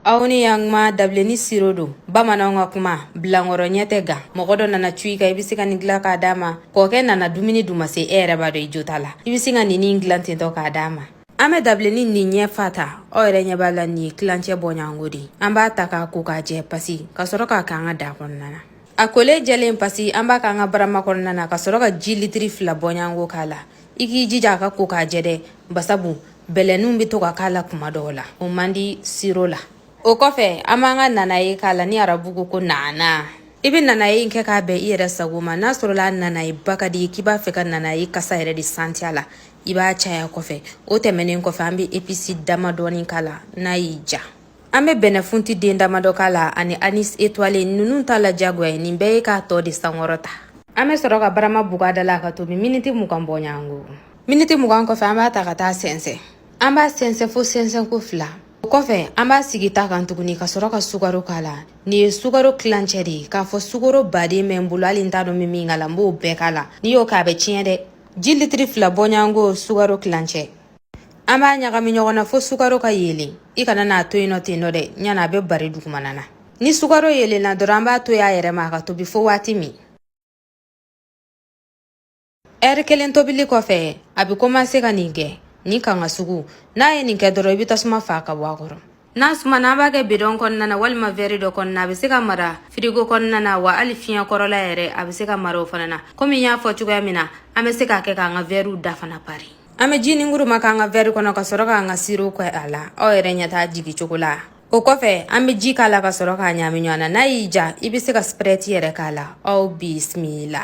aw ni yan kuma dabileni siro don bamananw ka kuma bilankɔrɔ ɲɛ tɛ gan mɔgɔ dɔ nana cun i kan i bɛ se ka nin gilan k'a d'a ma kɔkɛ nana dumuni duman se e yɛrɛ b'a dɔn i jo t'a la i bɛ se ka nin in gilan ten tɔ k'a d'a ma an bɛ dabileni nin ɲɛ fa ta aw yɛrɛ ɲɛ b'a la nin ye tilancɛ bɔɲango de an b'a ta k'a ko k'a jɛ pasi ka sɔrɔ k'a k'an ka daa kɔnɔna na a kolen jɛlen pasi an b'a k'an ka barama kɔnɔna na ka sɔrɔ ka ji litiri fila bɔɲango k'a la i k'i jija k'a ko k'a jɛ dɛ basabu bɛlɛninw bɛ to ka k'a la kuma dɔw la o man di siro la o kɔfɛ an b'an ka nanaye k'a la ni arabu ko ko naana i bɛ nanaye in kɛ k'a bɛn i yɛrɛ sago ma n'a sɔrɔla nanaye ba ka di k'i b'a fɛ ka nanaye kasa yɛrɛ de santiya la i b'a caya kɔfɛ o tɛmɛnen kɔfɛ an bɛ episi dama dɔɔni k'a la n'a y'i ja An bɛ bɛnɛfunti den damadɔ k'a la ani anis etwale ninnu t'a la diyagoya ye nin bɛɛ ye k'a tɔ de sankɔrɔta an bɛ sɔrɔ ka barama bug'a da la k'a tobi miniti mugan bɔɲango miniti mugan kɔfɛ an b'a ta ka t'a sɛnsɛn an b'a sɛnsɛn fo sɛnsɛnko fila o kɔfɛ an b'a sigi ta kan tuguni ka sɔrɔ ka sukaro k'a la nin ye sukaro tilancɛ de ye k'a fɔ sukaro ba de bɛ n bolo hali n t'a dɔn min min k'a la n b'o bɛɛ k'a la n'i y'o kɛ a bɛ tiɲɛ dɛ ji litiri fila bɔɲango sukaro tilancɛ an b'a ɲagami ɲɔgɔn na fo sukaro ka yeelen i kana n'a to yen nɔ ten nɔ dɛ ɲana a bɛ bari dugumana na ni sukaro yeelenna dɔrɔn an b'a to y'a yɛrɛ ma a ka tobi fo waati min ɛri kelen tobili kɔfɛ a bɛ komanse ka nin kɛ nin kanga sugu n'a ye nin kɛ dɔrɔn i bɛ tasuma faa ka bɔ a kɔrɔ N'a sumana an b'a kɛ bidɔn kɔnɔna na walima vɛri dɔ kɔnɔna a bɛ se ka mara firigo kɔnɔna na wa hali fiɲɛ kɔrɔla yɛrɛ a bɛ se ka mara o fana na komi n y'a fɔ cogoya min na an bɛ se k'a kɛ k'an ka vɛriw da fana pari an bɛ ji nin kuruma k'an ka vɛri kɔnɔ ka sɔrɔ k'an ka siro kɛ a la aw yɛrɛ ɲɛ t'a jigin cogo la o kɔfɛ an bɛ ji k'a la ka sɔrɔ k'a ɲaami ɲɔgɔn na n'a y'i ja i bɛ se ka sprɛti yɛrɛ k'a la aw bisimila